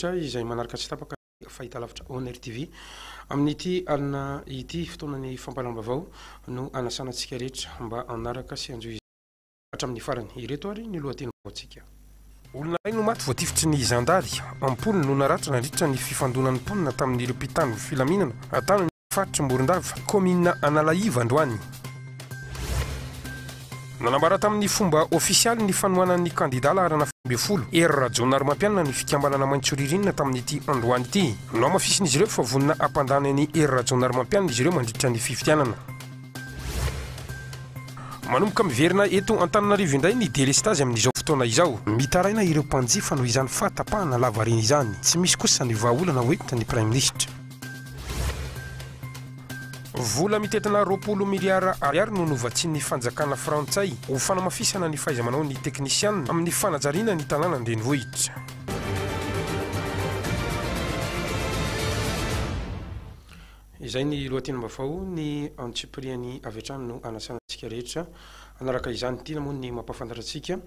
Tsia izay manaraka tsy tapaka ny fahitalavitra Oner TV. Amin'ity alina ity, fotoanan'ny fampalam-bavao no anasana antsika rehetra mba hanaraka sy hanjohy izany hatramin'ny farany. Ireto ary ny lohatenim-baovaontsika. Olona iray no maty voatifitry ny zandary, am-polony no naratra nandritra ny fifandonan'ny mponina tamin'ireo mpitandro filaminana tany. Faritry Morondava, kaominina Analaiva androany. Nanambara tamin'ny fomba ofisialy ny fanohanan'ny kandidà laharana fito ambin'ny folo, Hery Rajaonarimampianina ny fikambanana Maitso Ririnina tamin'ity androany ity. Nohamafisin'izy ireo fa vonona hampandany an'i Hery Rajaonarimampianina izy ireo mandritra ny fifidianana. Manomboka miverina eto Antananarivo indray ny delestazy amin'izao fotoana izao. Mitaraina ireo mpanjifa noho izany fahatapahana lavareny izany. Tsy misy kosa ny vahaolana hoentin'ny Praiminisitra. Vola mitentina roapolo miliara ariary no novatsian'ny fanjakana frantsay ho fanamafisana ny fahaiza-manaon'ny teknisiana amin'ny fanajariana ny tanàna an-drenivohitra. Izay ny lohatenim-baovao, ny antsipiriany avy hatrany no anasanantsika rehetra. Hanaraka izany intiana moa ny mampahafantatra antsika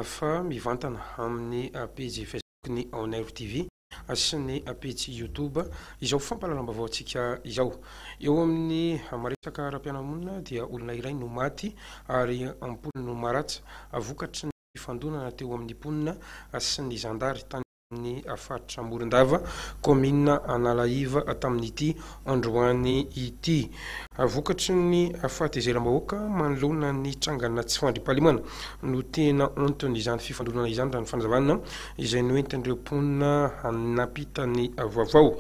fa mivantana amin'ny pejy Facebook-ny Aonairo TV. sy ny pejy YouTube izao fampahalalam-baovao antsika izao. Eo amin'ny maresaka ara-piarahamonina dia olona iray no maty ary am-polony no maratra vokatry ny fifandonana teo amin'ny mponina sy ny zandary tany amin'ny faritra Morondava, kaominina Analaiva tamin'ity androany ity. Vokatry ny fahatahizeram-bahoaka manoloana ny trangana tsy fandriampahalemana no tena anton'izany fifandonana izany raha ny fanazavana izay noentin'ireo mponina nampita ny vaovao.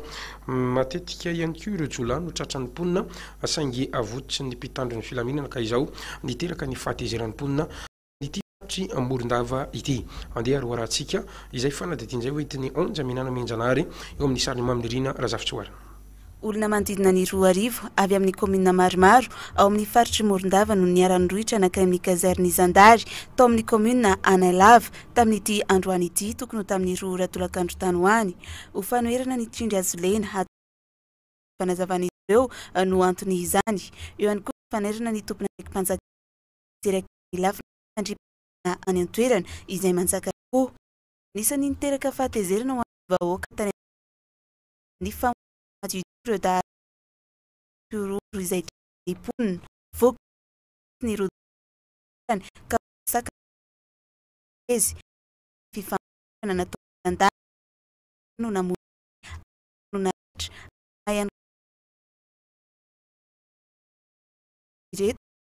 Matetika ihany koa ireo jiolahy no tratran'ny mponina saingy avototry ny mpitandro ny filaminana ka izao niteraka ny fahatezeran'ny mponina ity faritry Morondava ity. Andeha haroharantsika izay fanadihadiana izay hoentin'i Onja Minana Mianjanahary eo amin'ny sarin'i Mamy Nirina Razafitsihoara. Olona manodidina ny roa arivo avy amin'ny kaominina maromaro ao amin'ny faritr'i Morondava no niara-nirohitra nankany amin'ny kazerin'ny zandary tao amin'ny kaominina Analava tamin'ity androany ity tokony ho tamin'ny roa ora tolakandro tany ho any. Ho fanoherana ny tsindry azo lena hatao amin'ny fanazavan'izy ireo no anton'izany. Eo ihany koa ny fanairana ny tompon'andraiki-panjakana. tanteraka ny lafiny fandriampahalemana any an-toerana izay manjaka tokoa. Anisan'ny niteraka fahatezerana ho an'ny vahoaka tany Antananarivo ny famoahana azy ity ireo dahalo mitsiororo izay tohanan'ny mponina. Voakiboka mihitsy ny rodoka tany an-toerana ka voasakana tamin'ny alatsinainy teo ny fifaninanana natao miandahy ary no namono azy ary namono naratra na ihany koa ny mpitandro ny filaminana ireto.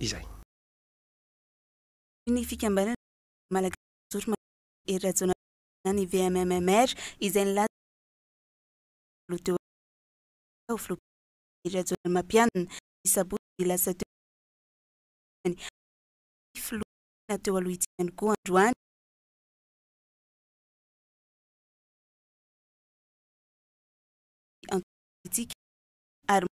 izay. Ny fikambanana malagasy mijoro manoloana an'i Hery Rajaonarivelo na ny VMMR izay nilaza fa tsy ho teo amin'ny fitondrana ho filoha mpirenena Hery Rajaonarimampianina ny sabotsy lasa teo izay ny fitondrana sy ny filoham-pirenena teo aloha ity ihany koa androany ny antoko politika ary manana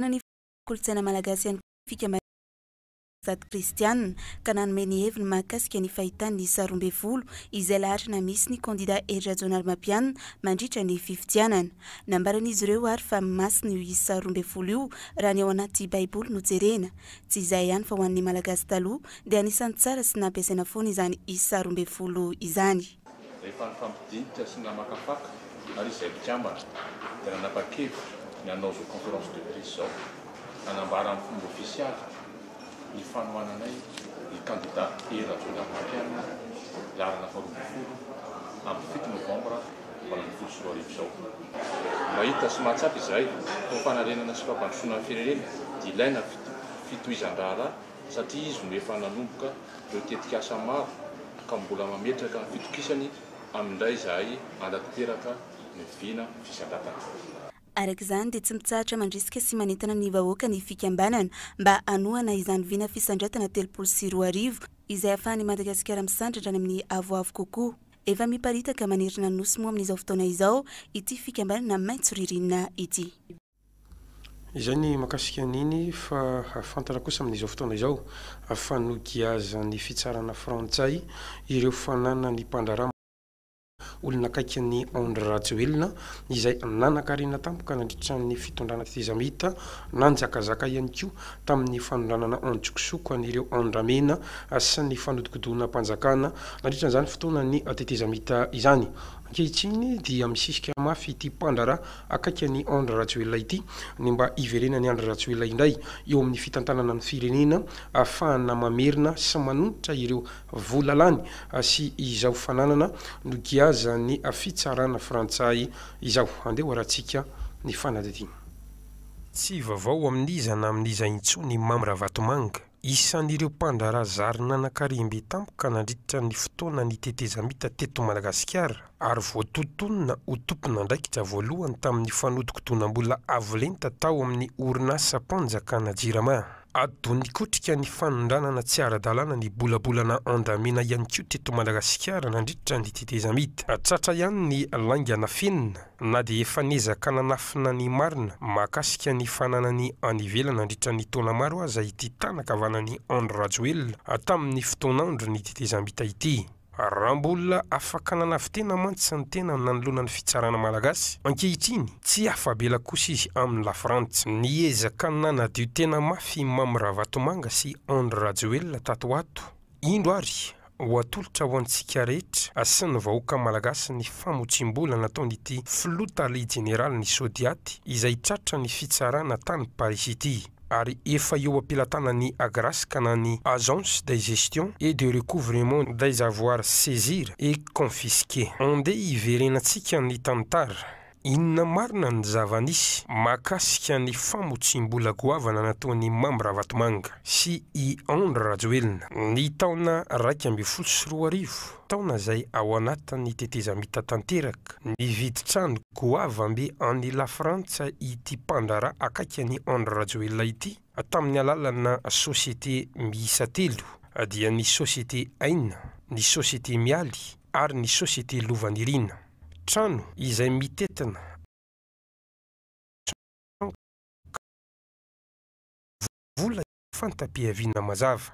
Nanefy ny kolontsaina malagasy ihany koa ny fikambanana Mpitandro ny Sady Kristianina ka nanome ny heviny mahakasika ny fahitany ny sary roa ambin'ny folo izay laharana misy ny kandida Hery Rajaonarimampianina mandritra ny fifidianana. Nambaran'izy ireo ary fa masina io isa roa ambin'ny folo io raha ny ao anaty baiboly no jerena. Tsy izay ihany fa ho an'ny Malagasy taloha dia anisan'ny tsara sy nampiasaina foana izany isa roa ambin'ny folo izany. Rehefa nifampidinika sy namakafaka ary izay mpikambana dia nanapa-kevitra ny hanao izao conférence de presse izao hanambara amin'ny fomba ofisialy ny fanohananay ny kandida Hery Rajaonarimampianina laharana faharoa ambin'ny folo amin'ny fito novambra valo ambin'ny folo sy roa arivo izao. Mahita sy mahatsapa izahay fa ho fanarenana sy fampandrosoana ny firenena dia ilaina fitohizan-draharaha satria izy no efa nanomboka ireo tetikasa maro ka mbola mametraka ny fitokisany amin'indray izahay hanatanteraka ny vina fisandratana. Araka izany dia tsy mitsahatra mandrisika sy manentana ny vahoaka ny fikambanana mba hanohana izany vina fisandratana telopolo sy roa arivo izay hahafahan'i Madagasikara misandratra any amin'ny avoavo kokoa. Efa miparitaka manerana ny Nosy moa amin'izao fotoana izao ity fikambanana maitso ririnina ity. Izay ny mahakasika an'iny fa hahafantatra kosa amin'izao fotoana izao fa nogiazan'ny fitsarana frantsay ireo fananan'ny mpandraharaha mahazo olona akaiky an'i Andry Rajoelina izay nanan-karena tampoka nandritra ny fitondrana tetezamita, nanjakazaka ihany koa tamin'ny fanondranana an-tsokosoko an'ireo andramena sy ny fanodikodinam-panjakana nandritra an'izany fotoanan'ny tetezamita izany. Ankehitriny dia misisika mafy ity mpandraharaha akaiky an'i Andry Rajoelina ity ny mba hiverenan'i Andry Rajoelina indray eo amin'ny fitantanana ny firenena ahafahana mamerina sy manonitra ireo vola lany sy izao fananana nogiazan'ny fitsarana frantsay izao. Andeha ho arahintsika ny fanadihadiana. Tsy vaovao amin'iza na amin'iza intsony i Mamy Ravatomanga. Isan'ireo mpandraharaha zary nanan-karem-be tampoka nandritra ny fotoanan'ny tetezamita teto Madagasikara ary voatotonina ho tompon'andraikitra voalohany tamin'ny fanodinkodonam-bola avo lenta tao amin'ny orinasam-panjakana Jirama. Adonikotrika ny fanondranana tsy ara-dalàna ny bolabolana andramena ihany koa teto Madagasikara nandritra ny tetezamita. Tratra ihany ny lainga nafenina. Na dia efa niezaka nanafina ny marina mahakasika ny fananany any ivelany nandritra ny taona maro aza ity tana kavanan'i Andry Rajoelina tamin'ny fotoan'andro ny tetezamita ity, raha mbola afaka nanavitena mantsy ny tenany nanoloana ny fitsarana malagasy, ankehitriny tsy afa-bela kosa izy amin'i Lafrantsa. Niezaka nanadio tena mafy i Mamy Ravatomanga sy Andry Rajoelina tato ho ato Indro ary, ho atolotra ho antsika rehetra sy ny vahoaka malagasy ny famotsiam-bola nataon'ity Filoha Tale Jeneralin'ny Sodiat izay tratra ny fitsarana tany Parisy ity ary efa eo am-pelatanan'ny Agrasca na ny Agence de Gestion et de Recouvrement des Avoirs Saisir et Confisquer. Andeha hiverenantsika ny tantara. Inona marina ny zava-nisy mahakasika ny famotsiam-bola goavana nataon'i Mamy Ravatomanga sy i Andry Rajoelina, ny taona iraika ambin'ny folo sy roa arivo, taona izay ao anatin'ny tetezamita tanteraka, nividy trano goavambe any Lafrantsa ity mpandraharaha akaiky an'i Andry Rajoelina ity, tamin'ny alalana société miisa telo, dia ny Société Aina, ny Société Mialy, ary ny Société Lovanirina. Trano izay mitentina vola tsy fanta-piaviana mazava.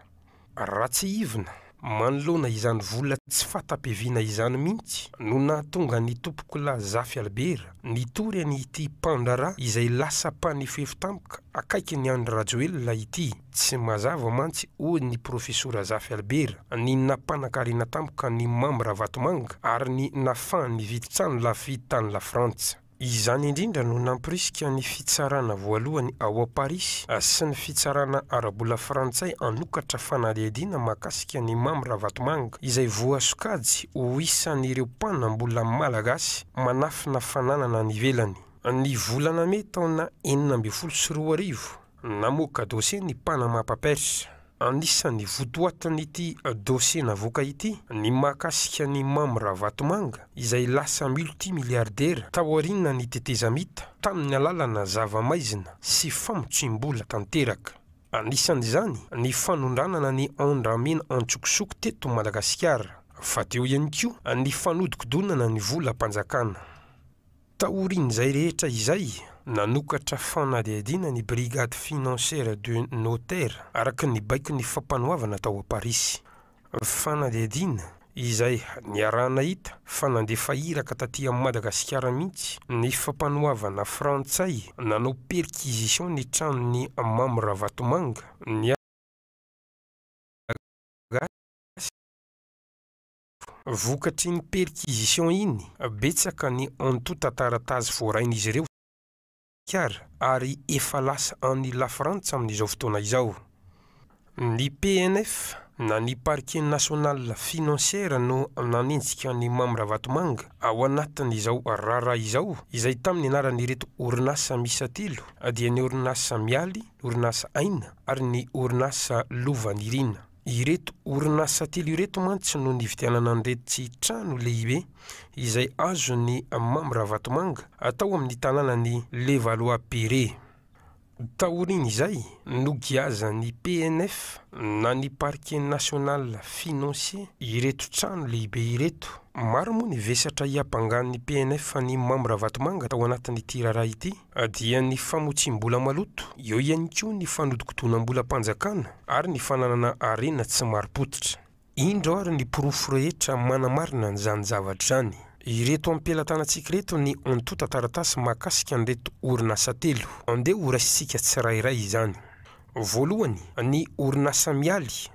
Raha tsiahivina, manoloana izany vola tsy fata-piaviana izany mihitsy no nahatonga ny Tompokolahy Zafy Albert nitory an'ity mpandraharaha izay lasa mpanefefi-tampoka akaikin'i Andry Rajoelina ity. Tsy mazava mantsy, hoy ny Profesora Zafy Albert, ny nampanankarena tampoka an'i Mamy Ravatomanga ary ny nahafahany nividy trano lafo vidy tany Lafrantsa. Izany indrindra no nampirisika ny fitsarana voalohany ao Amparisy sy ny fitsarana ara-bola frantsay hanokatra fanadihadiana mahakasika an'i Mamy Ravatomanga, izay voasokajy ho isan'ireo mpanam-bola malagasy manafina fananana any ivelany. Ny volana mey taona enina ambin'ny folo sy roa arivo, Namoaka dosie ny Panama Papers. Anisan'ny votoatin'ity dosie navoaka ity ny mahakasika an'i Mamy Ravatomanga izay lasa multimilliardaire taorian'ny tetezamita tamin'ny alalana zava-maizina sy famotsiam-bola tanteraka. Anisan'izany ny fanondranana ny Andramena an-tsokosoko teto Madagasikara, fa teo ihany koa ny fanodikodonana ny volam-panjakana. Taorian'izay rehetra izay, nanokatra fanadihadiana ny Brigade Financière de Notaire araka ny baikon'ny Fampanoavana tao Parisy. Fanadihadiana izay niaraha-nahita fa nandefa iraka taty amin'i Madagasikara mihitsy ny Fampanoavana frantsay nanao perquisition ny tranon'i Mamy Ravatomanga, ny Malagasy. Vokatrin'iny perquisition iny, betsaka ny antontan-taratasy voarain'izy ireo tao Madagasikara ary efa lasa any Lafrantsa amin'izao fotoana izao. Ny PNF na ny Parquet National Financier no nanenjika an'i Mamy Ravatomanga ao anatin'izao raharaha izao izay tamin'ny anaran'ireto orinasa miisa telo dia ny orinasa Mialy, ny orinasa Aina ary ny orinasa Lovanirina. Ireto orinasa telo ireto mantsy no nividianana an'ireto tsy trano lehibe izay azon'i Mamy Ravatomanga tao amin'ny tanànan'i Levallois-Perret. Taorian'izay, nogiazan'ny PNF na ny Parquet National Financier ireto trano lehibe ireto. Maro moa ny vesatra iapangan'ny PNF an'i Mamy Ravatomanga tao anatin'ity raharaha ity. Dia ny famotsiam-bola maloto, eo ihany koa ny fanodikodonam-bolam-panjakana ary ny fananana harena tsy marim-pototra. Indro ary ny porofo rehetra manamarina an'izany zavatra izany. Ireto am-pelatanantsika ireto ny antontan-taratasy mahakasika an'ireto orinasa telo. Andeha horaisintsika tsirairay izany. Voalohany, ny orinasa Mialy.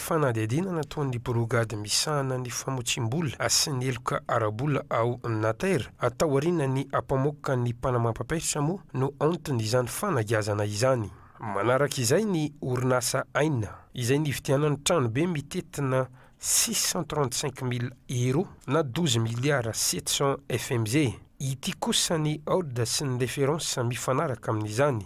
Fanadihadiana nataon'ny brogady misahana ny famotsiam-bola sy ny heloka ara-bola ao Nater, tao aorianan'ny ampamoaka ny mpanamam-papetra moa no anton'izany fanagiazana izany. Manaraka izay ny orinasa Aina, izay nividianany tranobe mitentina six cent trente cinq mille euros na douze milliards sept cents FMZ. Ity kosa ny Old sy ny Reference mifanaraka amin'izany.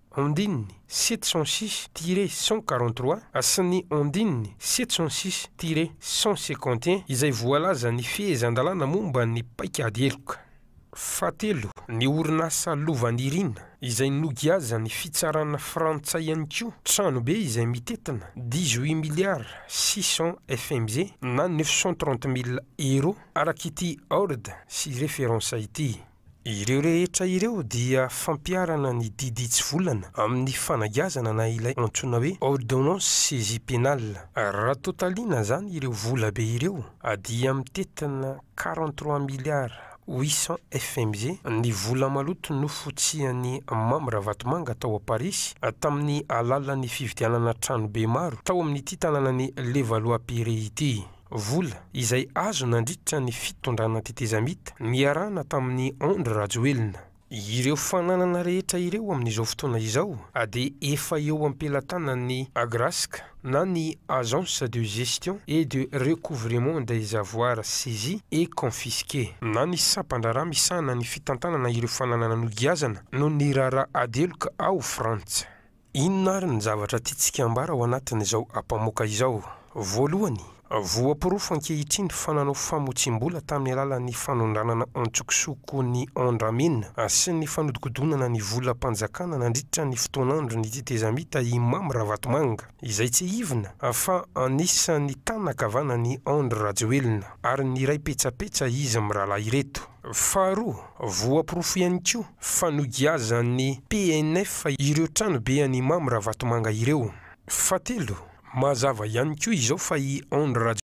Ondininy, sept cent six, tiré cent quarante trois, sy ny Ondininy, sept cent six, tiré cent cinquante et un, izay voalaza ny fehezan-dalàna momba ny paikady heloka. Fahatelo, ny orinasa Lovanirina, izay nogiazan'ny fitsarana frantsay ihany koa, tranobe izay mitentina dix-huit milliards six cents FMZ na neuf cent trente mille euros, araka ity Ord sy Reference ity. Ireo rehetra ireo dia fampiharana ny didy tsy volana amin'ny fanagiazana na ilay antsoina hoe ordonnance saisie pénale. Raha tôtaliana izany ireo vola be ireo dia mitentina quarante trois milliards huit cents FMG ny vola maloto nofotsian'i Mamy Ravatomanga tao Parisy tamin'ny alalan'ny fividianana tranobe maro tao amin'ity tanànan'i Levallois-Perret ity. Vola izay azo nandritra ny fitondrana tetezamita niarahana tamin'i Andry Rajoelina. Ireo fananana rehetra ireo amin'izao fotoana izao dia efa eo am-pelatanan'ny Agrasc na ny Agence de Gestion et de Recouvrement des Avoirs Saisis et Confisqués na ny sampan-draharaha misahana ny fitantanana ireo fananana nogiazana noho ny raharaha adeloka ao Frantsa. Inona àry ny zavatra tiantsika hambara ao anatin'izao ampamoaka izao? Voalohany, voaporofo ankehitriny fa nanao famotsiam-bola tamin'ny alalan'ny fanondranana an-tsokosoko ny Andramin sy ny fanodikodinana ny volam-panjakana nandritra ny fotoan'andron'ny tetezamita i Mamy Ravatomanga, izay tsiahivina fa anisan'ny tànana kavanan'i Andry Rajoelina, ary niray petsapetsa izy mirahalahy ireto. Faharoa, voaporofo ihany koa fa nogiazan'ny PNF ireo tranobe an'i Mamy Ravatomanga ireo. Fahatelo, mazava ihany koa izao fa i Andry Rajoelina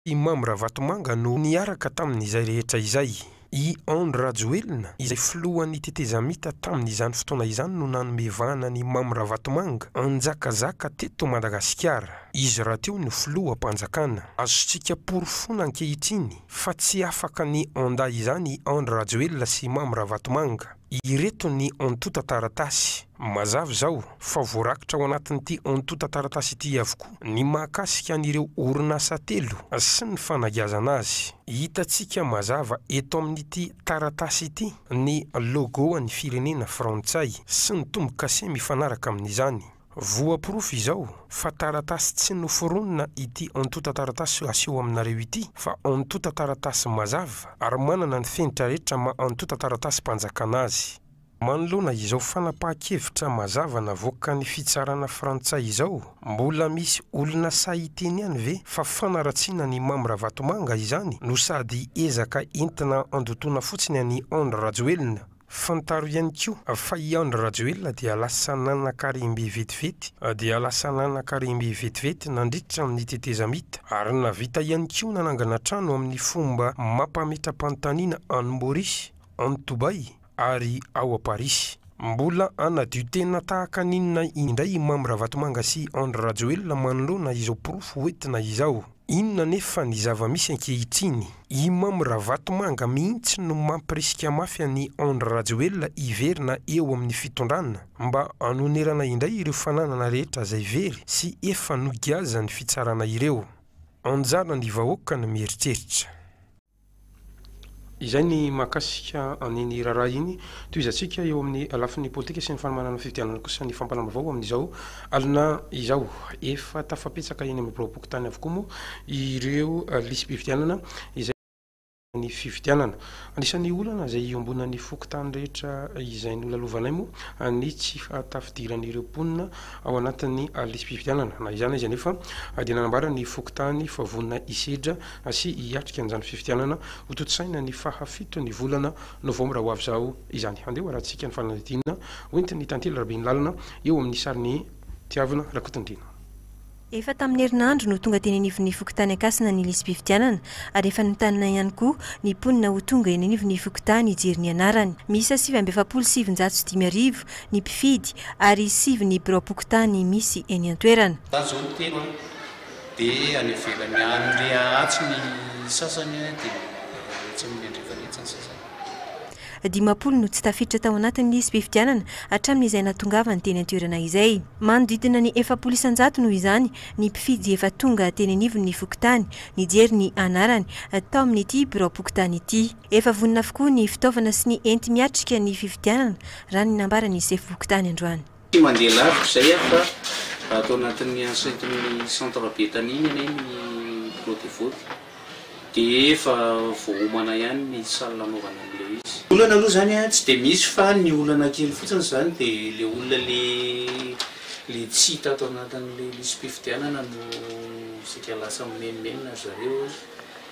sy i Mamy Ravatomanga no niaraka tamin'izay rehetra izay. I Andry Rajoelina izay filohan'ny tetezamita tamin'izany fotoana izany no nanome vahana an'i Mamy Ravatomanga hanjakazaka teto Madagasikara. Izy rahateo no filoham-panjakana. Azontsika porofoina ankehitriny Fa tsy afaka ny anda izany i Andry Rajoelina sy Mamy Ravatomanga. Ireto ny antotan-taratasy. Mazava izao fa voarakitra ao anatin'ity antotan-taratasy ity avokoa ny mahakasika an'ireo orinasa telo sy ny fanagiazana azy. Hitantsika mazava eto amin'ity taratasy ity ny logo an'ny firenena frantsay sy ny tombo-kase mifanaraka amin'izany. Voa porofo izao fa taratasy tsy noforonina ity antotan-taratasy aseho aminareo ity fa antotan-taratasy mazava ary manana ny fenitra rehetra maha antotan-taratasim-panjakana azy. Manoloana izao fanapahan-kevitra mazava navoakan'ny fitsarana frantsay izao, mbola misy olona sahy hiteny ihany ve fa fanaratsiana an'i Mamy Ravatomanga izany no sady ezaka entina handotoana fotsiny an'i Andry Rajoelina? Fantaro ihany koa fa i Andry Rajoelina dia lasa nanan-karem-be vetivety dia lasa nanan-karem-be vetivety nandritra ny tetezamita ary nahavita ihany koa nanangana trano amin'ny fomba mampametra-panontaniana any Maurice, any Dubai ary ao a Paris. Mbola hanadio tena tahaka ny inona indray i Mamy Ravatomanga sy Andry Rajoelina manoloana izao porofo hoentina izao? Inona anefa ny zava-misy ankehitriny? I Mamy Ravatomanga mihitsy no mampirisika mafy an'i Andry Rajoelina hiverina eo amin'ny fitondrana mba hanonerana indray ireo fananana rehetra izay very sy efa nogiazan'ny fitsarana ireo. Anjaran'ny vahoaka ny mieritreritra. Izay ny mahakasika an'iny raharaha iny. Tohizantsika eo amin'ny lafiny politika sy ny fanomanana ny fifidianana kosa ny fampanam-baovao amin'izao alina izao. Efa tafapetsaka eny amin'ny biraom-pokontany avokoa moa ireo lisi-pifidianana izay nandritra ny fifidianana. Anisan'ny olana izay iombonan'ny fokontany rehetra izay nolalovanay moa ny tsy fahatafidiran'ireo mponina ao anatin'ny lisi-pifidianana. Na izany na izy anefa dia nanambara ny fokontany fa vonona hisedra Asia hiatrika an'izany fifidianana hotontosaina ny faha fito ny volana novambra ho avy izao izany. Handeha ho arahintsika ny fanadihadiana hoentin'i Tantely Rabenilalina eo amin'ny sarin'i Tiavina Rakotondriana. Efa tamin'ny herinandro no tonga teny anivon'ny fokontany Ankasina ny lisi-pifidianana ary efa notanina ihany koa ny mponina ho tonga eny anivon'ny fokontany hijery ny anarany. Miisa sivy amby efapolo sy sivinjato sy dimy arivo ny mpifidy ary sivy ny biraom-pokontany misy eny an-toerana. Tazomy telo an! Dia any ivelany any re atsy ny sasany dia etsy amin'ny andrefana etsy ny sasany. Dimampolo no tsy tafiditra tao anatin'ny lisi-pifidianana hatramin'izay nahatongavany teny an-toerana izay. Manodidina ny efapolo isan-jato noho izany ny mpifidy efa tonga teny anivon'ny fokontany nijery ny anarany tao amin'ity biraom-pokontany ity. Efa vonona avokoa ny fitaovana sy ny enti-miatrika ny fifidianana raha ny nambaran'ny sefom-pokontany androany. Tsy mandeha lavitra izay aho fa ato anatin'ny enceinte-n'ny Centre Bethanie ny anay ny Bureau de vote dia efa voaomana ihany ny salle anaovana an'ilay izy. Olana aloha izany tsy dia misy fa ny olana kely fotsiny izany dia ilay olona ilay tsy hita ato anatin'ilay lisi-pifidianana no saika lasa mimenomenona ry zareo.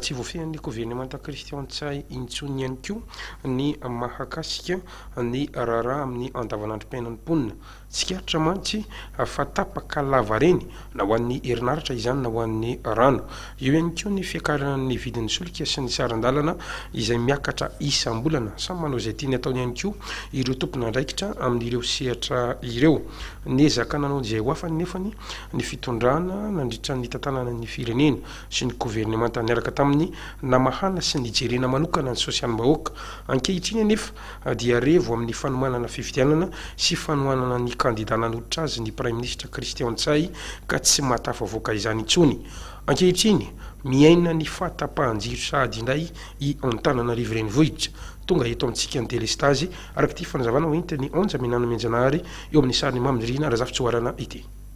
Tsy voafehin'ny governemanta kristian Ntsay intsony ihany koa ny mahakasika ny raharaha amin'ny andavanandrom-piainan'ny mponina. Tsikaritra mantsy fa tapaka lavareny na ho an'ny herinaratra izany na ho an'ny rano. Eo ihany koa ny fiakaran'ny vidin'ny solika sy ny saran-dalana izay miakatra isam-bolana. Samy manao izay tiany ataony ihany koa ireo tompon'andraikitra amin'ireo sehatra ireo. Niezaka nanao izay ho afany nefany ny fitondrana nandritra ny nitantanana ny firenena. sy ny governemanta niaraka tamin'ny namahana sy nijerena manokana ny sosialim-bahoaka. Ankehitriny anefa dia revo amin'ny fanomanana fifidianana sy fanohanana ny kandidà nanolotra azy ny Praiminisitra Christian Ntsay ka tsy mahatafavoaka izany intsony. Ankehitriny, miaina ny fahatapahan-jiro sahady indray i Antananarivo Renivohitra. Tonga eto amintsika ny delestazy, araka ity fanazavana hoentin'i Anja Menanamianjanahary eo amin'ny sarin'i Mamy Nirina Razafitsihoarana ity.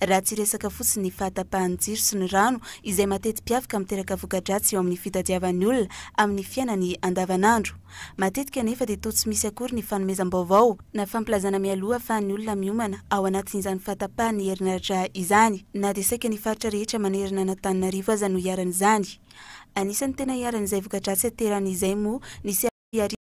raha tsy resaka fotsiny ny fahatapahan'ny jiro sy ny rano izay mateti-piavaka miteraka voka-dratsy eo amin'ny fitadiavan'ny olona amin'ny fiainany andavanandro. Matetika anefa dia toa tsy misy akory ny fanomezam-baovao, na fampilazana mialoha ahafahan'ny olona miomana ao anatin'izany fahatapahan'ny herinaratra izany, na dia saika ny faritra rehetra manerana an'Antananarivo aza no iharan'izany. Anisan'ny tena iharan'izay voka-dratsy aterany izay moa ny sy hariva.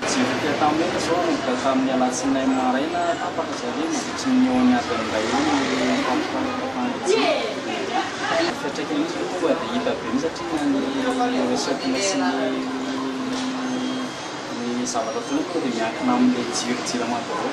Nijery ity Antanimena izao ka tamin'ny alatsinainy maraina, tapaka zareo mandritry ny eo amin'ny adiny iray eo ny fampifandrafetran-kevitra. Fiantraikany mihitsy aloha tonga dia hita be mihitsy satria na ny resety sy ny zavatra ataony tonga dia miankina amin'ilay jiro jirama vaovao.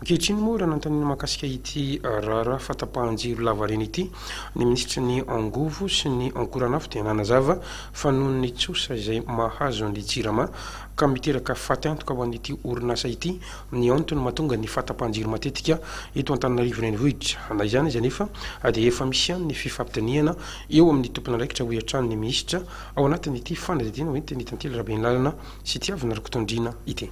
Ankehitriny moa, raha nanontaniana mahakasika ity raharaha fahatapahan-jiro lavareny ity ny minisitry ny Angovo sy ny Ankoranafo dia nanazava fa noho ny tsosa izay mahazo ny Jirama ka miteraka faty antoka ho an'ity orinasa ity ny antony mahatonga ny fahatapahan-jiro matetika eto Antananarivo Renivohitra. Na izany aza anefa dia efa misy ihany ny fifampidinihana eo amin'ny tompon'andraikitra hoy hatrany ny minisitra ao anatin'ity fanadihadiana hoentin'i Tantely Rabenilalana sy Tiavina Rakotondriana ity.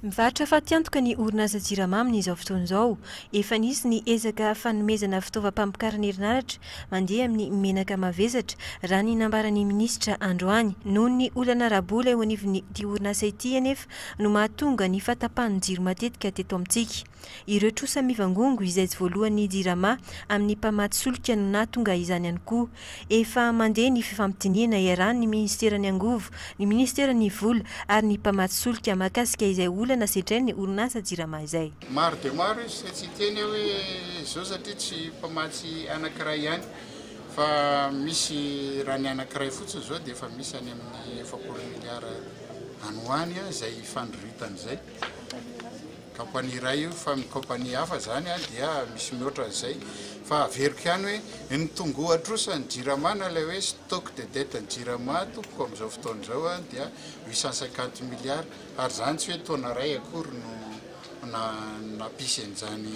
Mivarotra fatiantoka ny orinasa Jirama amin'izao fotoana izao. Efa nisy ny ezaka fanomezana fitaovam-pamokarana herinaratra mandeha amin'ny menaka mavesatra, raha ny nambaran'ny minisitra androany. Noho ny olana ara-bola eo anivon'ity orinasa ity anefa no mahatonga ny fahatapahan'ny jiro matetika teto amintsika. Ireo trosa mivangongo izay tsy voalohan'ny Jirama amin'ny mpamatsy solika no nahatonga izany ihany koa. Efa mandeha ny fifampidinihana iarahan'ny Minisiteran'ny Angovo, ny Minisiteran'ny Vola ary ny mpamatsy solika mahakasika izay olana sedrain'ny orinasa Jirama izay. Maro dia maro izy, izay tsy hiteny aho hoe izao satria tsy mpamatsy anankiray ihany fa misy raha ny anankiray fotsiny izao dia efa misy any amin'ny efapolo miliara any ho any izay ifandroritan'izay. Kampania iray io fa ny kampania hafa izany dia misy mihoatra an'izay. Fa averiko ihany hoe ny tongoa trosa ny jirama na ilay hoe stock de dette ny jirama tompoko amin'izao fotoana izao dia huit cent cinquante milliards ary izany tsy hoe taona iray akory no nampisy an'izany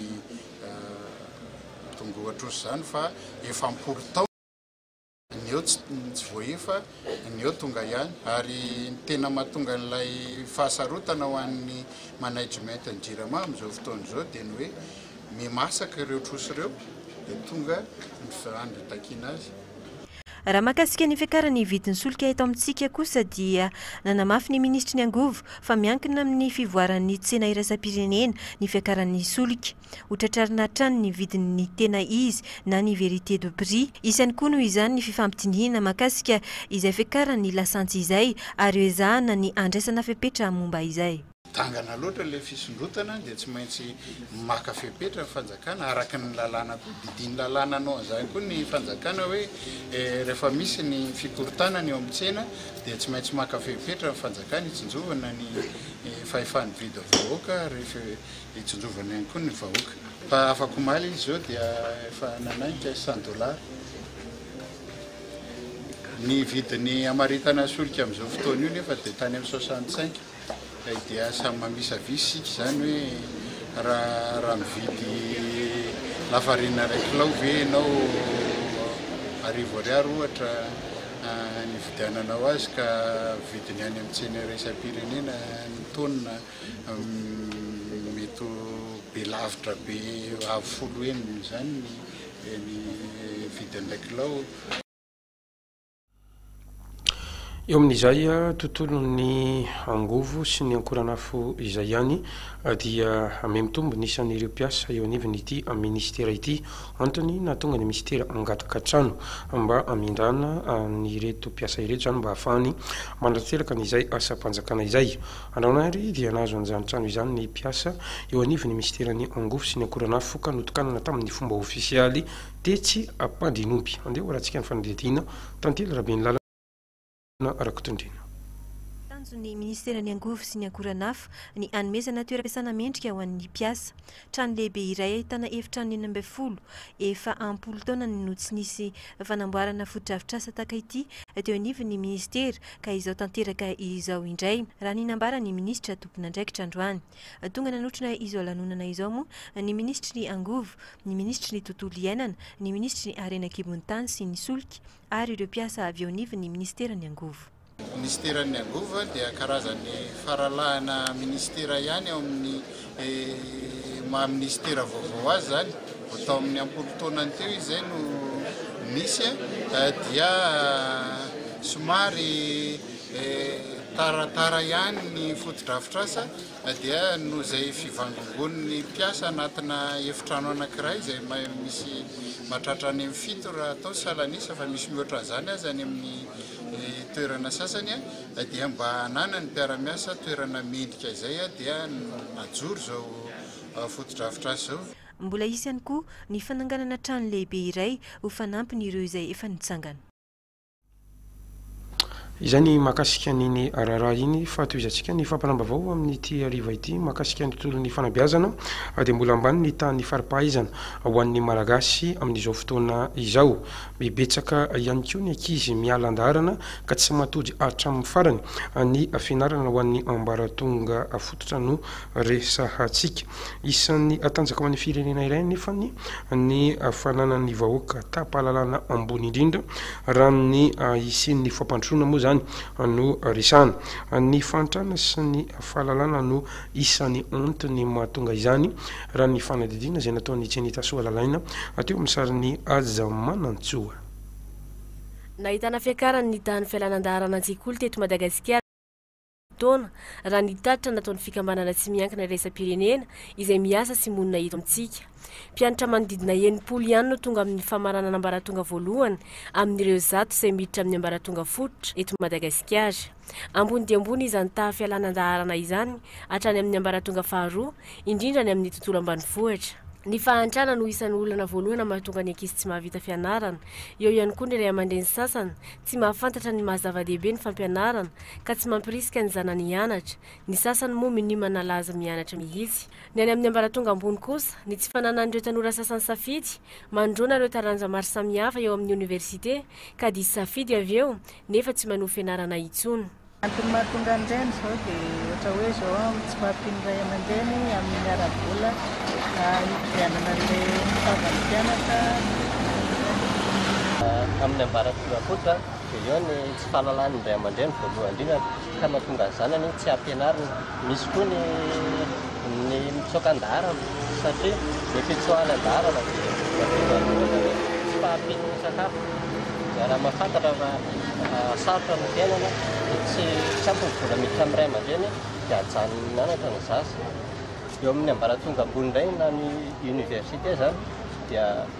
tongoa trosa izany fa efa am-polo taona Ny eo tsy voaefa, ny eo tonga ihany. Ary ny tena mahatonga an'ilay fahasarotana ho an'ny management ny Jirama amin'izao fotoana izao dia ny hoe miha-masaka ireo trosa ireo dia tonga ny firan'ny itakiana azy. Raha mahakasika ny fiakaran'ny vidin'ny solika eto amintsika kosa dia nanamafy ny minisitry ny angovo fa miankina amin'ny fivoaran'ny tsena iraisam-pirenena ny fiakaran'ny solika. Ho tratrarina hatrany ny vidin' ny tena izy na ny vérité de prix. Isany koa noho izany ny fifampidinihina mahakasika izay fiakaran' ny lasantsy izay ary ho ezahana ny handraisana fepetra momba izay. Dangana loatra ilay fisondrotana dia tsy maintsy maka fepetra ny fanjakana araka ny lalàna koa. Didin' lalàna hanao an' izany koa ny fanjakana hoe rehefa misy ny fikorontanana eo amin' ny tsena dia tsy maintsy maka fepetra ny fanjakana hitsinjovana ny fahefa nividy vahoaka ary Hitsinjovana ihany koa ny vahoaka. Fa afakomaly izy zao dia efa nanainga cent dollars. Ny vidin'ny hamaritana solika amin'izao fotoana io nefa dia tany amin'ny soixante cinq. Kay dia samy mamisavisy isika izany hoe raha raha mividy lafarina iray kilao ve ianao arivo ariary ohatra nividiananao azy ka vidiny any amin'ny tsena iraisam-pirenena ny tonne. Mety ho be lavitra be avo folo heny izany ny vidin'ilay kilao. Eo amin'izay tontolon'ny angovo sy ny ankoranafo izay ihany dia mihamitombo ny isan'ireo mpiasa eo anivon'ity minisitera ity. Antony nahatonga ny minisitera hangataka trano mba hamindrana an'ireto mpiasa ireto izany mba hahafahany manatselaka an'izay asam-panjakana izay. Andragnahary dia nahazo an'izany trano izany ny mpiasa eo anivon'ny minisiteran'ny Angofo sy ny Akoranafo ka notokanana tamin'ny fomba ofisialy tetsy Ampandrianomby. Andeha ho arahantsika ny fanadihadiana, Tantely Rabenilala, Rakotondriana. Tanjon'ny minisiteran'ny Angofo sy ny Akoranafo ny hanomezana toeram-piasana mendrika ho an'ny mpiasa. Trano lehibe iray ahitana efitrano enina ambin'ny folo. Efa am-polo taona no tsy nisy fanamboarana fotodrafitrasa tahaka ity teo anivon'ny minisitera ka izao tanteraka izao indray, raha ny nambaran'ny minisitra tompon'andraikitra androany. Tonga nanotrona izao lanonana izao moa ny minisitry ny Angovo, ny minisitry ny Tontolo iainana, ny minisitry ny Harena an-kibon'ny tany sy ny solika ary ireo mpiasa avy eo anivon'ny minisiteran'ny Angovo. Minisiteran'ny Angovo dia karazan'ny faralahana minisitera ihany ao amin'ny maha minisitera vaovao azy izany. Vao tao amin'ny am-polo taonany teo izy izay no nisy dia somary taratara ihany ny fotodrafitrasa dia noho izay fivangongoan'ny mpiasa anatina efitrano anankiray izay misy mahatratra any amin'ny fito raha atao ny salan'isa fa misy mihoatra an'izany aza any amin'ny Ny toerana sasany dia mba hananan'ny mpiara-miasa toerana mendrika izay dia najoro izao fotodrafitrasa izao. Mbola hisy ihany koa ny fananganana trano lehibe iray ho fanampin'ireo izay efa nitsangana. Izay ny mahakasika an'iny raharaha iny fa tohizantsika ny fampiram-baovao amin'ity hariva ity mahakasika ny tontolon'ny fanabeazana dia mbola ambany ny tahan'ny fari-pahaizana ho an'ny Malagasy amin'izao fotoana izao. Be betsaka ihany koa ny ankizy miala an-daharana ka tsy matody hatramin'ny farany ny fianarana ho an'ny ambaratonga fototra no resahantsika. Isan'ny tanjaka ho an'ny firenena iray anefa ny fananan'ny vahoaka taham-pahalalana ambony indrindra raha ny hisian'ny fampandrosoana moa izany no resahana. Ny fahantrana sy ny fahalalana no Isan'ny antony mahatonga izany raha ny fanadihadiana izay nataon'i Chenita Soa Lalaina teo amin'ny sarin'i Aja Manantsoa. Nahitana fiakaran'ny ny tahan'ny fialana an-daharana an-tsekoly teto Madagasikara ny taona, raha ny tatitra nataon'ny fikambanana tsy miankina iraisam-pirenena izay miasa sy monina eto amintsika. Mpianatra manodidina enimpolo ihany no tonga amin'ny famaranana ambaratonga voalohany amin'ireo zato izay miditra amin'ny ambaratonga fototra eto Madagasikara. Ambony dia ambony izany taha fialana an-daharana izany hatrany amin'ny ambaratonga faharoa, indrindra ny amin'ny tontolo ambanivohitra. Ny fahantrana no isan'ny olana voalohana mahatonga ny ankizy tsy mahavita fianarana. Eo ihany koa ny ray aman-dreny sasany tsy mahafantatra ny maha zava-dehibe ny fampianarana ka tsy mampirisika ny zanany hianatra. Ny sasany moa minia manala azy mianatra mihitsy. Ny any amin'ny ambaratonga ambony kosa, ny tsy fananan'ireo tanora sasany safidy, manoloana ireo taranja maro samihafa eo amin'ny oniversite, ka diso safidy avy eo, nefa tsy manohy fianarana intsony. Antony mahatonga an'ireny izao dia ohatra hoe izao amin'ny tsy fahampian'ny ray aman-dreny amin'ny ara-bola hividianana an'ilay fitaovan'ny mpianatra ohatran'izany. Amin'ny ambaratonga kosa dia eo ny tsy fahalalahan'ny ray aman-dreny voalohany indrindra. ka mahatonga ny zanany tsy ampianarina, misy koa ny ny mitsoaka an-daharana satria ny fitsoahany an-daharana dia mahatonga ny ohatra hoe tsy fahampian'ny sakafo, izay raha mahafantatra fa sarotra ny fiainana dia tsy tsy ampy ny vola miditra amin'ny ray aman-dreny dia ajanony mianatra ny zaza, eo amin'ny ambaratonga ambony indray na ny université izany dia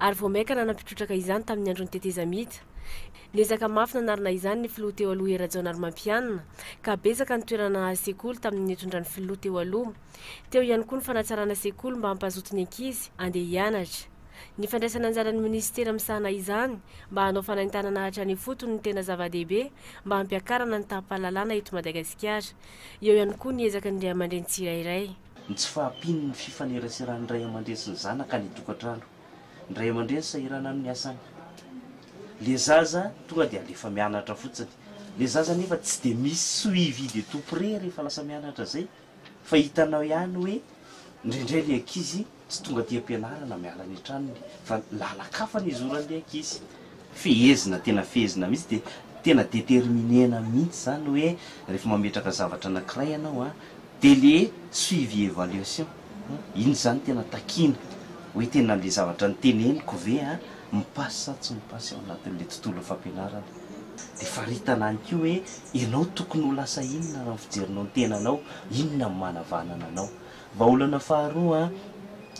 ary vao mainka nanampy trotraka izany tamin'ny andron'ny tetezamita. Niezaka mafy nanarina izany ny filoha teo aloha Hery Rajaonarimampianina, ka betsaka ny toerana nahazo sekoly tamin'ny nitondran'ny filoha teo aloha. Teo ihany koa ny fanatsarana sekoly mba hampazoto ny ankizy handeha hianatra. Ny fandraisana anjaran'ny minisitera misahana izany mba hanao fanaintanana hatrany ifotony no tena zava-dehibe mba hampiakarana ny taham-pahalalana eto Madagasikara. Eo ihany koa ny ezaka ny ray aman-dreny tsirairay. Ny tsy fahampian'ny fifaneraseran'ny ray aman-dreny sy ny zanaka any an-tokantrano. Ny ray aman-dreny sahirana amin'ny asany. Ilay zaza tonga dia alefa mianatra fotsiny. Ilay zaza anefa tsy dia misy suivi de tout près rehefa lasa mianatra izay fa hitanao ihany hoe indraindray ilay ankizy Tsy tonga aty am-pianarana miala any an-tranony fa lalan-kafa ny hizoran'ilay ankizy. Fehezina, tena fehezina mihitsy dia tena determiner-na mihitsy izany hoe rehefa mametraka zavatra anankiray ianao an, dia ilay suivi evaluation an, iny izany tena takiana hoe tena ilay zavatra noteneniko ve an, mi-passe sa tsy mi-passe ao anatin'ilay tontolon'ny fampianarana. Dia faritana ihany koa hoe ianao tokony ho lasa inona raha ny fijerinao ny tenanao, inona no manavanana anao. Vahaolana faharoa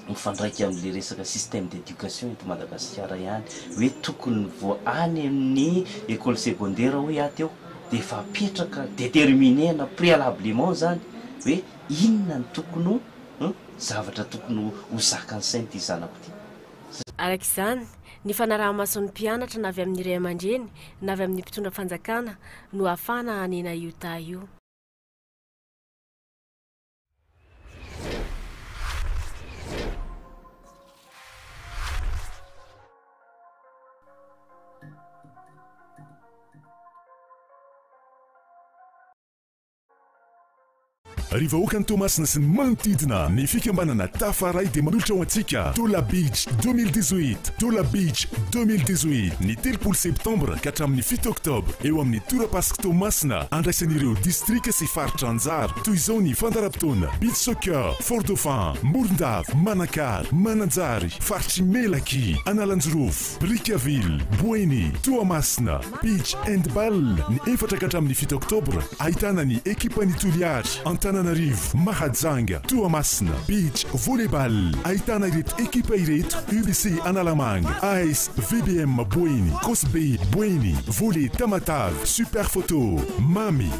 mifandraika amin'ilay resaka système d'éducation eto Madagasikara ihany hoe tokony vao any amin'ny école secondaire hoy aho teo dia efa apetraka déterminer-na préalablement izany hoe inona no tokony ho zavatra tokony ho zakan'ny sain'ity zanako ity. Araka izany, ny fanaraha-mason'ny mpianatra na avy amin'ny ray aman-dreny na avy amin'ny mpitondra fanjakana no ahafahana hanena io taha io. Ry vahoakan'i Toamasina sy ny manodidina, ny fikambanana Tafaray dia manolotra ho antsika Tola Beach 2018. Tola Beach 2018, ny telopolo septambra ka hatramin'ny fito oktobra, eo amin'ny torapasik' Toamasina, andraisan'ireo distrika sy faritra anjara. Toy izao ny fandaharam-potoana, Beach Soccer, Fort Dauphin, Morondava, Manakara, Mananjary, Faritry Melaky, Analanjirofo, Brickaville, Boeny, Toamasina. Beach and Bal ny efatra ka hatramin'ny fito oktobra, ahitana ny ekipan'ny Toliary, Antananarivo, Mahajanga, Toamasina. Beach Volley Bal, ahitana ireto ekipa ireto, UBC Analamanga, AS VBM Boeny, Cosbe Boeny, Volley Tamatave, Super Photo, Mamy.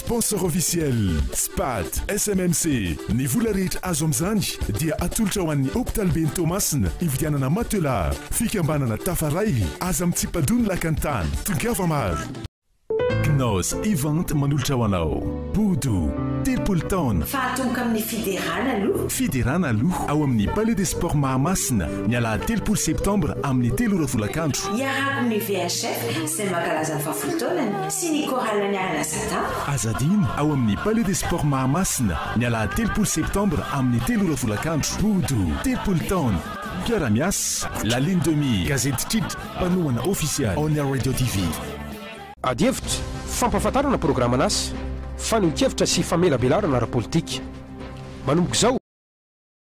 Sponsor officiel, Spat, SMMC. Ny vola rehetra azo amin'izany dia atolotra ho an'ny hopitaliben'i Toamasina hividianana matelas. Fikambanana Tafaray, aza mitsipa-doha ny lakan'ny tany, tongava maro. Knaus Event manolotra ho anao Bodo, telopolo taona. Fa atomboka amin'ny fiderana aloha. Fiderana aloha ao amin'ny Palais des Sports Mahamasina ny alahady telopolo septambra amin'ny telo ora folakandro. Iaraha-ko amin'ny VHF izay mankalaza ny fahafolo taonany. sy ny chorale ny Ala Sadà. Aza adino, ao amin'ny Palais des Sports Mahamasina, ny alahady telopolo septambra amin'ny telo ora folakandro. Bodo, telopolo taona. Mpiara-miasa, La Lune de Mire, Gazety Titra, mpanohana ofisialy, On Air Radio TV. Adihevitra, fampahafantarana programan'asa, fanehoan-kevitra sy famelabelarana ara-politika. Manomboka izao.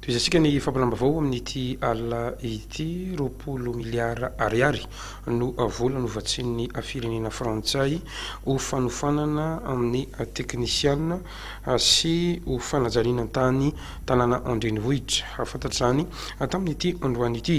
Tohizantsika ny fampilam-baovao amin'ity alina ity. Roapolo miliara ariary no vola novatsian'ny firenena frantsay ho fanofanana amin'ny teknisiana sy ho fanajariana tany tanàna an-drenivohitra. Fantatra izany tamin'ity androany ity.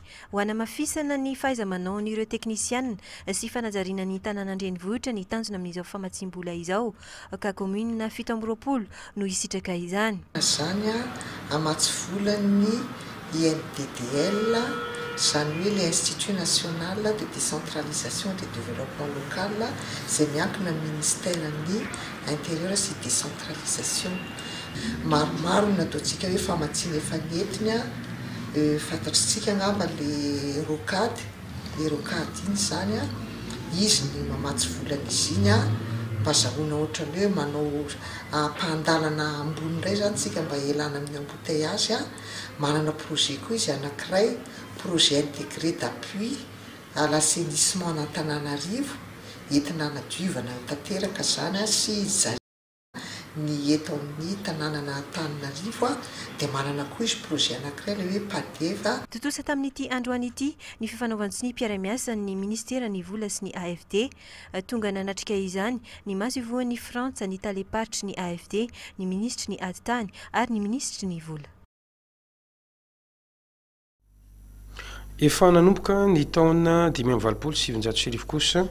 Ho hanamafisana ny fahaiza-manaon'ireo teknisiana sy fanajariana ny tanàna an-drenivohitra ny tanjona amin'izao famatsiam-bola izao ka kaominina fito amby roapolo no hisitraka izany. Izany hamatsy volan'ny INDDL, izany hoe ilay Institut National de Décentralisation et de Développement Local izay miankina amin'ny Ministeran'ny Intérieur sy Décentralisation. Maromaro no nataontsika hoe famatsiana efa nentiny a, fantatritsika angamba le rocade, le rocade iny zany a, izy ny mamatsy vola an'izy iny a, mba azahoana ohatran'ny hoe manao ampahan-dalana ambony indray zany tsika mba hialana amin'ny embouteillages a, manana projet koa izy anankiray, projet integre d'appui à l'assainissement an'Antananarivo, entina hanadiovana tanteraka zany a sy hijalia. Ny eto amin'ny tanànan'Antananarivo dia manana koa izy projet anankiray ilay hoe Padev. Tontosa tamin'ity androany ity ny fifanaovan-tsonia mpiara-miasan'ny Ministeran'ny Vola sy ny AFD. Tonga nanatrika izany ny masoivohon'i Frantsa, ny talem-paritry ny AFD, ny minisitry ny Ady tany ary ny minisitry ny Vola. Efa nanomboka ny taona dimy amby valopolo sy sivinjato sy arivo kosa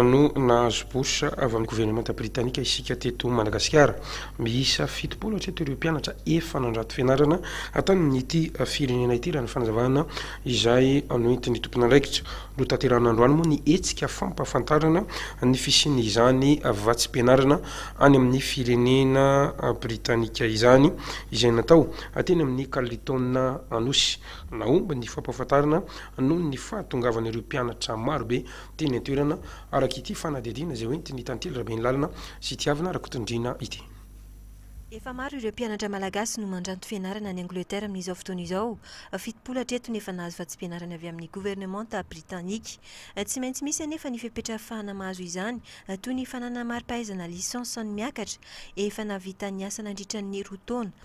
no nahazo bourse avy amin'ny governemanta britanika isika teto Madagasikara. Miisa fitopolo hatreto ireo mpianatra efa nandrato fianarana tamin'ity firenena ity raha ny fanazavana izay noentin'ny tompon'andraikitra. Notanterahina androany moa ny hetsika fampahafantarana ny fisian'izany vatsim-pianarana any amin'ny firenena britanika izany izay natao Teny amin'ny Carlton Anosy, nahomby ny fampahafantarana noho ny fahatongavan'ireo mpianatra marobe teny an-toerana, araka ity fanadihadiana izay hoentin'ny Tantely Rabeanilalina sy Tiavina Rakotondriana ity. Efa maro ireo mpianatra malagasy no mandranto fianarana any Angleterre amin'izao fotoana izao. Fitopolo hatreto ny efa nahazo vatsim-pianarana avy amin'ny governemanta britanika. Tsy maintsy misy anefa ny fepetra afahana mahazo izany, toy ny fananana mari-pahaizana licence an'ny miakatra, efa nahavita ny asa nandritra ny roa taona.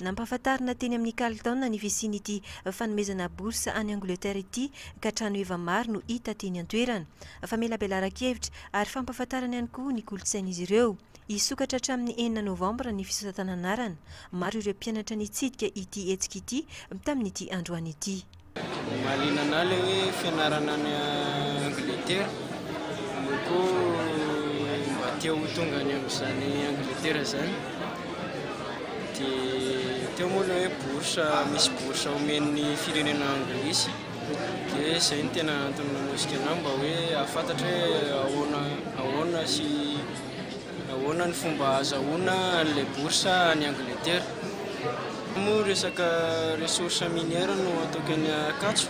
Nampahafantarina teny amin'ny Carlton ny fisian'ity fanomezana bourse any Angleterre ity ka trano heva maro no hita teny an-toerana. Famelabelaran-kevitra ary fampahafantarana ihany koa ny kolontsain'izy ireo. Hisokatra hatramin'ny enina novambra ny fisasatan'anarana. Maro ireo mpianatra nitsidika ity hetsika ity tamin'ity androany ity. Mahaliana anah le hoe fianarana any Angletera, eo koa mba te ho tonga any amin'izany Angletera zany, de teo moa le hoe bourse, misy bourse omen'ny firenena anglisy, de zay no tena antony nanosika anah mba hoe hahafantatra hoe ahoana ahoana sy. Ahoana ny fomba azahoana an'ilay bourse any Angleterre? Raha moa resaka ressource minière no ataoko eny Ankatso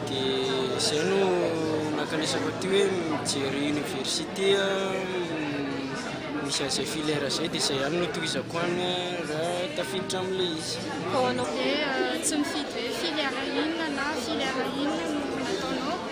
dia izay no nakanesako aty hoe mijery université misy an'izay filière izay dia izay ihany no tohizako any raha tafiditra amin'ilay izy. Dia tsy mifidy hoe filière inona na filière inona no nataonao?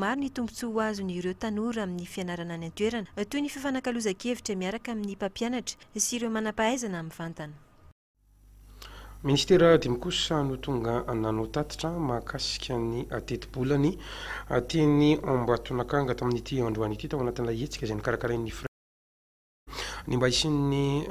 Maro ny tombontsoa ho azon'ireo tanora amin'ny fianarana any an-toerana, toy ny fifanakalozan-kevitra miaraka amin'ny mpampianatra sy ireo manam-pahaizana mivantana. Minisitera dimy kosa no tonga nanao tatitra mahakasika ny tetibolany teny Ambatonakanga tamin'ity androany ity tao anatin'ilay hetsika izay nokarakarain'ny. Ny mba hisian'ny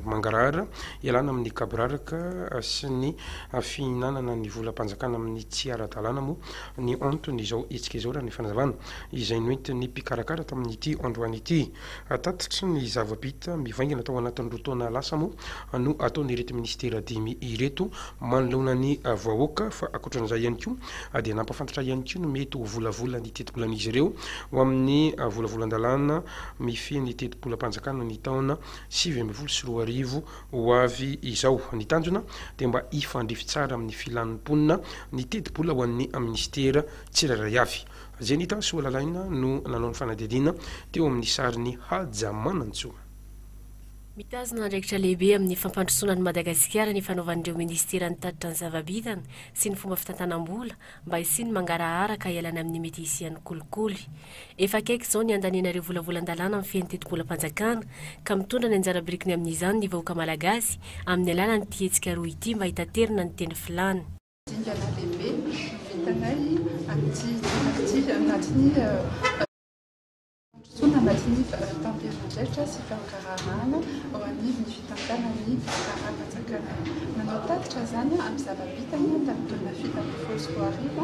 mangarahara ialana amin'ny gaboraraka sy ny fihinanana ny volam-panjakana amin'ny tsy ara-dalàna moa ny anton'izao hetsika izao, raha ny fanazavana izay noentin'ny mpikarakara tamin'ity androany ity. Tatitry ny zava-bita mivaingana tao anatin'ny roa taona lasa moa no ataon'ireto minisitera dimy ireto manoloana ny vahoaka fa ankoatran'izay ihany koa dia nampahafantatra ihany koa ny mety ho volavolany tetibolan'izy ireo ho amin'ny volavolan-dalàna mifehy ny tetibolam-panjakana ny taona sivy ambin'ny folo sy roa arivo ho avy izao. Ny tanjona dia mba hifandrify tsara amin'ny filan'ny mponina ny tetibola ho an'ny minisitera tsirairay avy. Zenita Soalalaina no nanao ny fanadihadiana teo amin'ny sarin'i Haja Manantsoa. Mitazona andraikitra lehibe amin'ny fampandrosoana an'i Madagasikara ny fanaovan'ireo minisitera ny tatitra ny zava-bitany sy ny fomba fitantanam-bola mba hisian'ny mangarahara ka hialana amin'ny mety hisian'ny kolikoly. Efa akaiky izao ny handaniana ireo volavolan-dalàna amin'ny fiaintetim-polam-panjakana, ka mitondra ny anjara birikiny amin'izany ny vahoaka Malagasy amin'ny alalan'ity hetsika roa ity mba hitaterana ny teny filàna. Dingana lehibe no vitanay amin'ity ity anatin'ny fandrosoana anatin'ny taom-pielezan-drehitra sy fahagaraharahana ao anivon'ny fitantanan'ny fitsaram-panjakana. Manao tatitra izany amin'ny zava-bitany tamin'ny taona fito ambin'ny folo sy roa arivo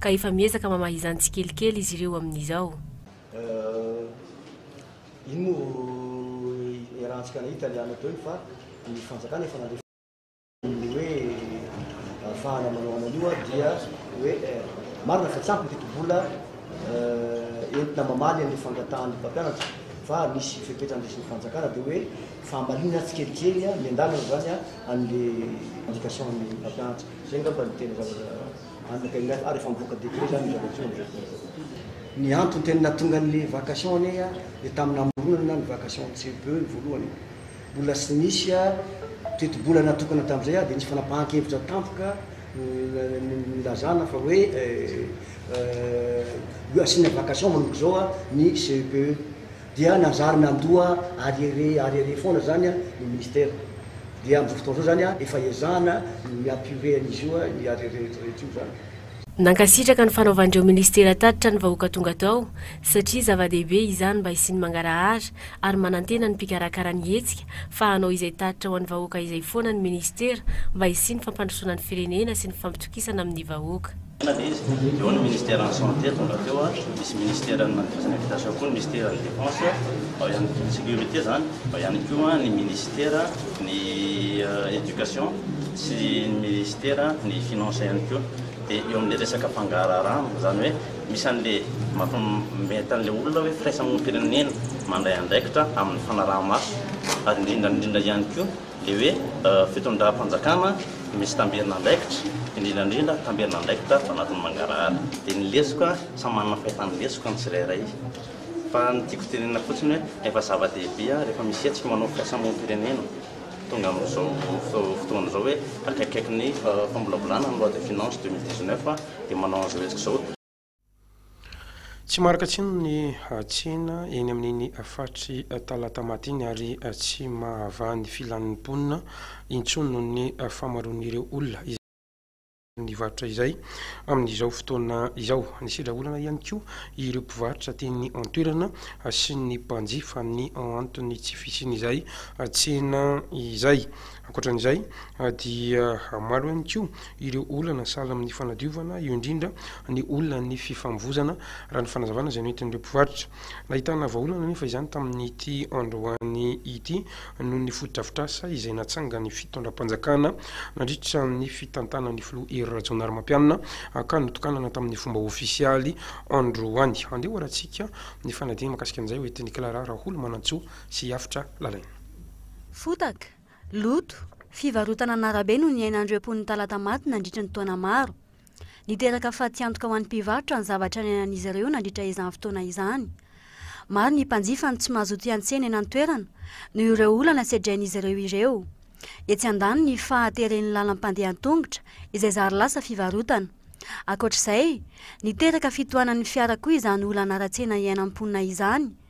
ka efa miezaka mamaha izany tsikelikely izy ireo amin'izao. Iny moa vao iarahantsika nahita ny anao teo iny fa ny fanjakana efa nandre fotsiny ny hoe ahafahana manao an'an'io dia hoe marina fa tsy ampy ny tetibola entina mamaly an'io fangatahan'ny mpampianatra fa misy fepetra andraisin'ny fanjakana dia hoe fahamalinana tsikelikely miandalana izany an'ilay indication ny mpampianatra. Izay angamba no tena zavatra Anaka indray fa ary efa mivoaka décret zany io zavatra io amin'izao fotoana izao. Ny antony tena nahatonga an'ilay vacation anie dia tamin'ny namoronana ny vacation CEPE ny voalohany e. Mbola tsy nisy tetibola natokana tamin'izay dia nisy fanapahan-kevitra tampoka nilazana fa hoe asiana vacation manomboka izao ny CEPE. Dia nanjary nandoa arieré arieré foana zany ny ministera. Dia amin'izao fotoana izao zany efa ezahana ny mi-apurer an'izy io ny arieré rehetra rehetra io zany. Nankasitraka ny fanaovan'ireo ministera tatitra ny vahoaka tonga tao satria zava-dehibe izany mba hisian'ny mangarahara ary manantena ny mpikarakara ny hetsika fa hanao izay tatitra ho an'ny vahoaka izay foana ny ministera mba hisian'ny fampandrosoana ny firenena sy ny fampitokisana amin'ny vahoaka. Eny izy, dia ao ny ministeran'ny santé tonga teo, misy ministeran'ny manodidina habitation koa ny misteran'ny defense, ao ihany koa ny sécurité zany, ao ihany koa ny ministera ny éducation sy ny ministera ny finance ihany koa, dia eo amin'ilay resaka fangaraharahana, izany hoe misy an'ilay mampmety an'ilay olona hoe firaisamonim-pirenena mandray andraikitra amin'ny fanaraha-maso ary indrindra indrindra ihany koa Dia hoe fitondram-panjakana misy tamberin'andraikitra, indrindra indrindra tamberin'andraikitra ato anatin'ny mangarahara. Dia ny lesoka, samy manana fahefan'ny lesoka ny tsirairay. Fa ny tiako tenenina fotsiny hoe efa zava-dehibe rehefa misy hetsika manao fikasamom-pirenena, tonga amin'izao fotoana izao hoe akaikikaiky ny famolavolana ny loi de finances deux mille dix-neuf dia manao an'izao hetsika izao. Tsy marika tsiny ny tsena eny amin'iny faritry Talatamaty iny ary tsy mahavaha ny filan'ny mponina intsony noho ny fahamaroan'ireo olona izay mividy amin'izany varotra izay amin'izao fotoana izao. Nisedra olana ihany koa ireo mpivarotra teny an-toerana sy ny mpanjifa ny anton'ny tsy fisian'izay tsena izay. Ankoatra an'izay dia maro ihany koa ireo olana sahala amin'ny fanadiovana, eo indrindra ny olan'ny fifamovoizana, raha ny fanazavana izay noentin'ireo mpivarotra. Nahitana vahaolana anefa izany tamin'ity androany ity noho ny fotodrafitrasa izay natsangan'ny fitondram-panjakana nandritra ny fitantanan'ny filoha Hery Rajaonarimampianina ka notokanana tamin'ny fomba ofisialy androany. Andeha hoharantsika ny fanadinana mikasika an'izay hoentin'i Clara Raholomanantsoa sy Hafitra Lalaina. Fotaka, loto, fivarotana an'arabe no niainan'ireo mponin'i Talatamaty nandritra ny taona maro. Niteraka fatiantoka ho an'ny mpivarotra ny zavatra niainan'izy ireo nandritra izany fotoana izany. Maro ny mpanjifa no tsy mazoto hiantsena eny an-toerana noho ireo olana sedrain'izy ireo ireo. Etsy andaniny ny fahateren'ny lalam-pandeha an-tongotra izay zary lasa fivarotana. Ankoatra izay, niteraka fitohanan'ny fiara koa izany olana ara-tsena iainan'ny mponina izany.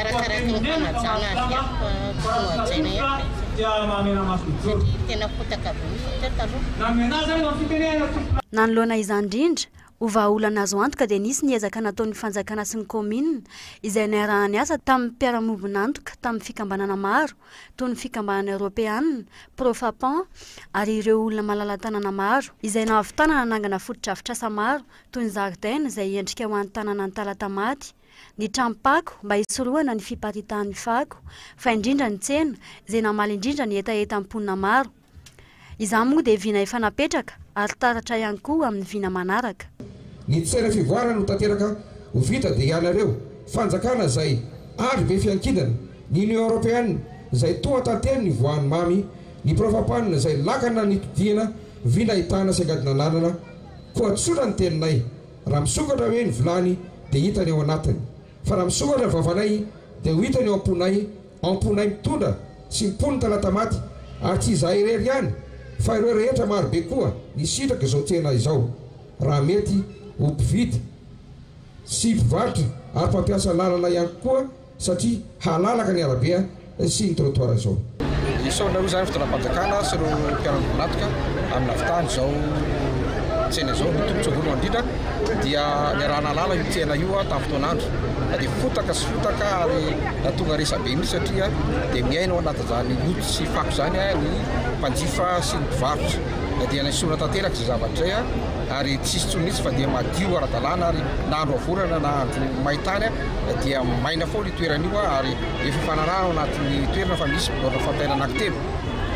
Arakaraky ny fanajana azy ihany fa tsy nohajaina ihany izy satria tena fotaka be mihitsy satria taloha. Nanoloana izany indrindra, ho vahaolana azo antoka dia nisy ny ezaka nataon'ny fanjakana sy ny kaominina izay niaraha-niasa tamin'ny mpiara-miombon'antoka tamin'ny fikambanana maro toy ny fikambanana eoropeana, Profapan ary ireo olona malala-tanana maro izay nahavitana nanangana fotodrafitrasa maro toy ny zaridaina izay endrika ho an'ny tanànan'i Talatamaty. ny tranom-pako mba hisorohana ny fiparitahan'ny fako, fa indrindra ny tsena, izay namaly indrindra ny hetahetan'ny mponina maro. Izany moa dia vina efa napetraka ary taratra ihany koa amin'ny vina manaraka. Ny tsena fivoarana no tanteraka ho vita dia ianareo fanjakana izay andry ve fiankindana, ny Union Européenne izay toa tantely ny voan'ny mamy, ny mpirofa-panina izay lakana ny todihana vina ahitana sy angadin'ananana koa tsotra ny teninay. Raha misokatra hoe ny vilany dia hitany ao anatiny, fa raha misokatra ny vavanay dia ho hitany ao am-ponay, ao am-ponay mitondra sy mimpono ny talatamaty, ary tsy izahay irery ihany fa ireo rehetra marobe koa nisitraka izao tsena izao, raha mety ho mpividy sy mpivarotra ary mpampiasa lalana ihany koa. satria halalaka ny arabe sy ny trottoir izao. Isaorana izany fitondram-panjakana sy ireo mpiara-mivonatoka amin'ny navitan'ny izao tsena izao. Ny tombotsoa voalohany indrindra dia niaraha-nahalala io tsena io tamin'ny fotoan'andro fa dia fotaka sy fotaka ary nahatonga resabe mihitsy satria dia miaina ao anatin'izany loto sy fako izany ny mpanjifa sy ny mpivarotra. Na dia nesorina tanteraka izay zavatra izay ary tsy hisy intsony mihitsy fa dia madio ara-dalàna ary na andro havorana na andro main-tany dia maina foana io toerana io ary efa fanarahana ao anatin'ny toerana fa misy biraona fampiaina anankitelo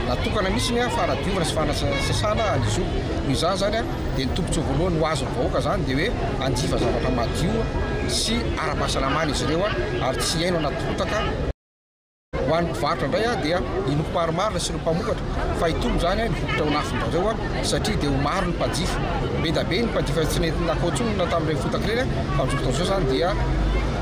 natokana mihitsy ny fanadiovana sy fanasasana ny zo. Noho izany izany dia ny tombontsoa voalohany ho azon'ny vahoaka izany dia hoe hanjifa zavatra madio sy ara-pahasalamana izy ireo ary tsy hihaino anaty rotaka. Ho an'ny mpivarotra indray dia inoako marimarina sy ireo mpamokatra fa hitolo izany ny vokatra ao an'afon-dRareo satria dia ho maro ny mpanjifa. Be da be ny mpanjifa tsy nety nakao intsony tamin'ireny fotaka ireny fa amin'izao fotoana izao izany dia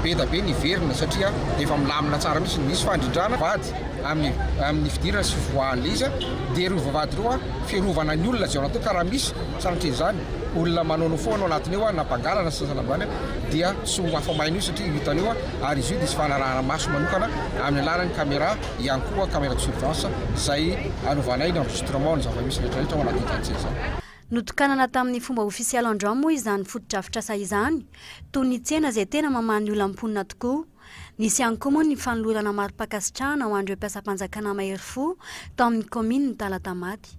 be da be ny hiverina satria dia efa milamina tsara mihitsy. Misy fandrindrana vady amin'ny amin'ny fidirana sy fivoahan'ilay izy dia ireo vavahady ireo fiarovana ny olona izay ao anatiny ka raha misy sanatria izany olona manaonao foana ao anatiny ao na mpangalana sy ny sasany ambany dia tsy ho afa-maina io satria ho hitanao ary izy io dia hisy fanarahana maso manokana amin'ny alalan'ny caméra ihany koa, caméra de surveillance, izay anovanay ny enregistrement ny zava-misy rehetrarehetra ao anatin'ny chantier izany. Notokanana tamin'ny fomba ofisialy androany moa izany fotodrafitrasa izany, toy ny tsena izay tena mamaha ny olam-ponina tokoa. Nisy ihany koa moa ny fanolorana mari-pankasitrahana ho an'ireo mpiasam-panjakana mahery fo tao amin'ny kaominina Talatamaty.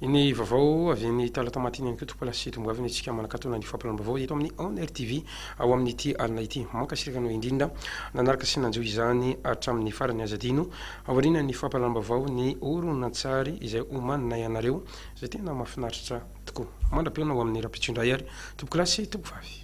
Ny vaovao avy eny Talatamatin eny koa tompoko lahy sy tomboavy ny antsika manakatona ny fampiran'ny vaovao eto amin'ny On Air TV ao amin'ity alina ity. Mankasitraka anao indrindra nanaraka sy nanjo izany hatramin'ny farany aza adino aoriana ny fampalalam-baovao ny horonantsary izay homaninay anareo izay tena mahafinaritra tokoa. Mandra-pihaona ho amin'ny rahampitso indray ary tompoko lahy sy tompoko vavy.